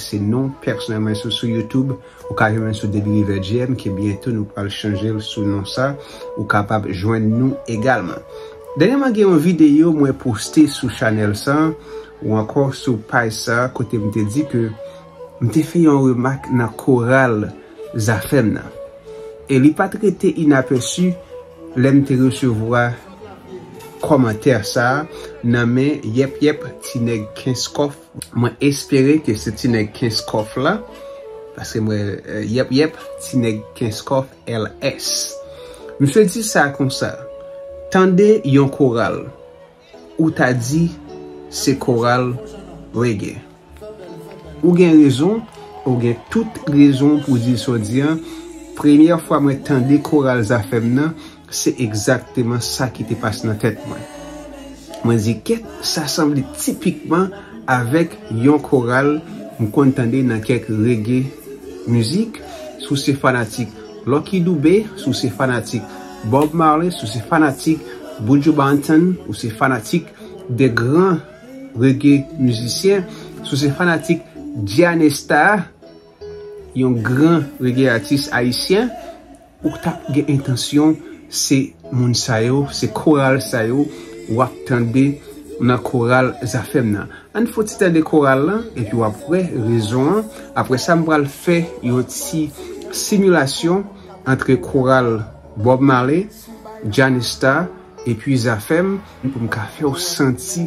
Se non pèsonèl mwen sou sou youtube ou ka jwenn mwen sou Dedy River JM ke byento nou pral chanjel sou non sa ou kapab jwenn nou egalman. Dènyèman gen yon videyo mwen poste sou chanèl sa ou ankò sou paj sa kote m te di ke m te fè yon remak nan koral Zafèm nan e li pat rete inapèsi lè m te resevwa kòmantè sa nan men yèp yèp ti nèg kenskof Mwen espere ke se ti nèg kenskof la paske m wè yep yep ti nèg kenskof LS misye di sa konsa tande yon koral ou ta di se koral reggae ou gen rezon ou gen tout rezon pou di sa w di an premyè fwa mwen tande koral zafèm nan Se egzakteman sa ki te pase nan tèt mwen. Mwen di, Kèt, sa sanble tipikman avèk yon koral m konn tande nan kèk reggae mizik, si w se fanatik Lucky Dube, si w se fanatik Bob Marley, si w se fanatik Buju Banton, ou se fanatik de gran reggae mizisyen, si w se fanatik Gianesta, Yon gran rege atis ayisyen ou ta gen entansyon se moun sa yo, se koral sa yo w ap tande nan koral Zafèm nan. Ann fon ti tande koral lan epi w ap wè rezon an. Apre sa m pral fè yon ti similasyon antre koral Bob Marley, Janistar epi Zafèm pou m ka fè w santi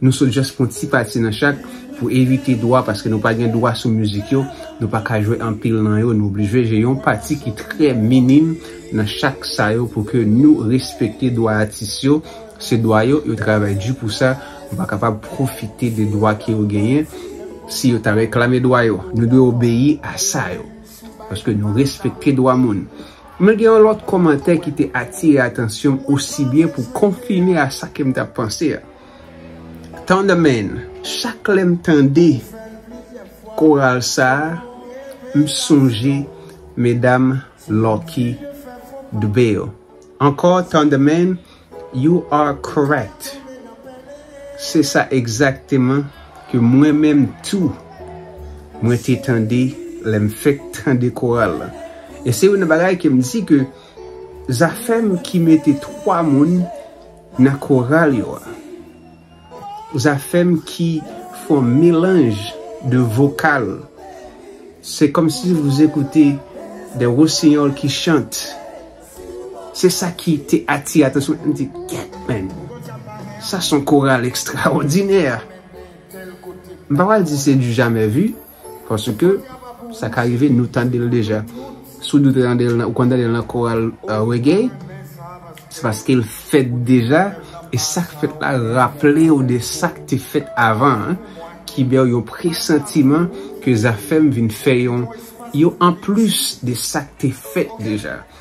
Nou sot just pran ti pati nan chak pou evite dwa paske nou pa gen dwa sou mizik yo, nou pa ka jwe anpil nan yo nou oblije jwe yon pati ki trè minim nan chak sa yo pou ke nou respekte dwa atis yo, se dwa yo, yo travay di pou sa, nou pa kapab pwofite de dwa ke yo genyen si yo ta reklame dwa yo, nou dwe obeyi a sa yo paske nou respekte dwa moun. Men gen yon lòt kòmantè ki te atire atansyonm osi byen pou konfime a sa kem tap panse a. Thunderman chak lèm tande koral sa m sonje medam lucky dube yo ankò Thunderman you are correct se sa egzakteman ke mwen menm tou mwen te tande lèm fèk tande koral la e se youn nan bagay kem di ke zafèm ki mete 3 moun Nan koral yo a. Zafèm ki fon melanj de vokal se kòm si vous écoute des rossignols qui chante se sa ki te atire atansyon mwen m di gèt menn sa son koral ekstraòdinè m pa pral di se du jamè vu. Paske, sa ka rive nou tande l deja. Si w di w te tande l, ou konn tande l nan koral reggae, se paske l fèt deja, e sa k fèt la raple w de sa k te fèt avan an, ki ba w yon presantiman ke Zafèm vin fè yon anplis de sa k te fèt deja.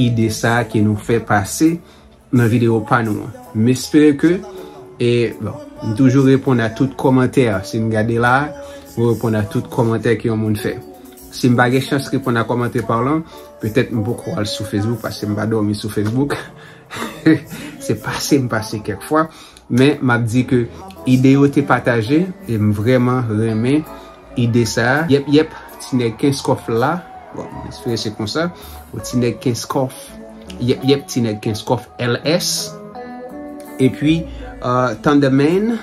ide sa ke nou fè pase nan video pa nou an m espere ke e bon m toujou reponn a tout kòmantè si m gade la m reponn a tout kòmantè ke yon moun fè si m pa gen chans reponn a kòmantè pa w lan petèt m poko al sou facebook paske m pa dòmi sou facebook se pase m pase kèk fwa. Men map di ke ide yo te pataje e m vreman renmen ide sa. Yep yep ti neg kenskof la bon m espere se konsa ou ti neg kenskof yep yep ti neg kenskof LS epi thunder man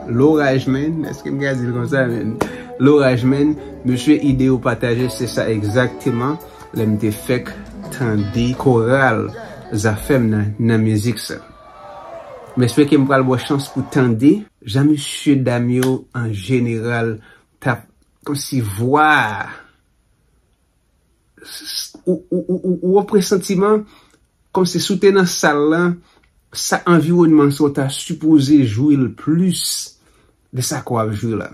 loraj man eske m ka di l konsa man loraj man mesye ide yo pataje se sa egzakteman lè m te fek tande koral zafem nan nan mizik sa. M espeke m pral bò chans pou tande jan mesye dam yo an jeneral t ap kòmsi vwa a ou wè presantiman kòmsi si w te nan sal lan sa anviwònman sa w ta sipoze jwi l plis de sa ke w ap jwi la.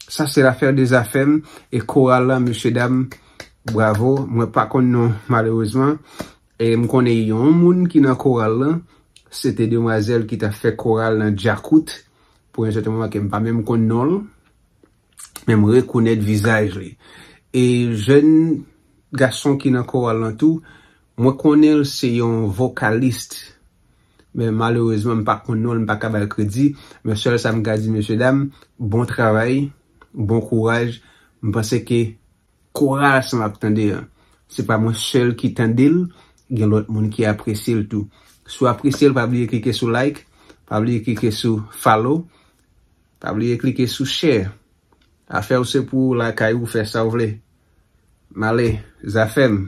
Sa se lafè de zafè m e koral la mesye dam bravo mwen pa konn non malerezman. E m konnen yon moun ki nan koral lan, se te demwazèl ki ta fè koral nan Djakout pou yon sèten moman ke m pa menm konn non l, men m rekonèt vizaj li. E jèn gason ki nan koral lan tou, mwen konnen l se yon vokalist, men malerezman m pa konn non l, m pa ka ba l kredi, men sèl sa m ka di mesyedam, bon travay, bon kouraj, m panse ke Koral sa map tande an se pa mwen sèl ki tandel gen lòt moun ki apresyel tou si w apresyel pa bliye klike sou like pa bliye klike sou follow pa bliye klike sou share afèw se pou w lakay ou fè sa w vle male zafèm.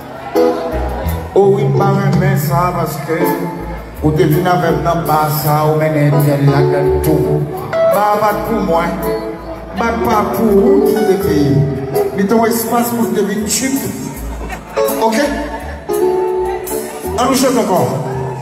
Oh wi m pa renmen sa paske ou te vin avèm nan ba sa ou mennen Etienne ladann tou ba a pat pou mwen bak pa pou ou tou te te ye li te yon espas pou n te vin tchuipp ok an nou chante ankò.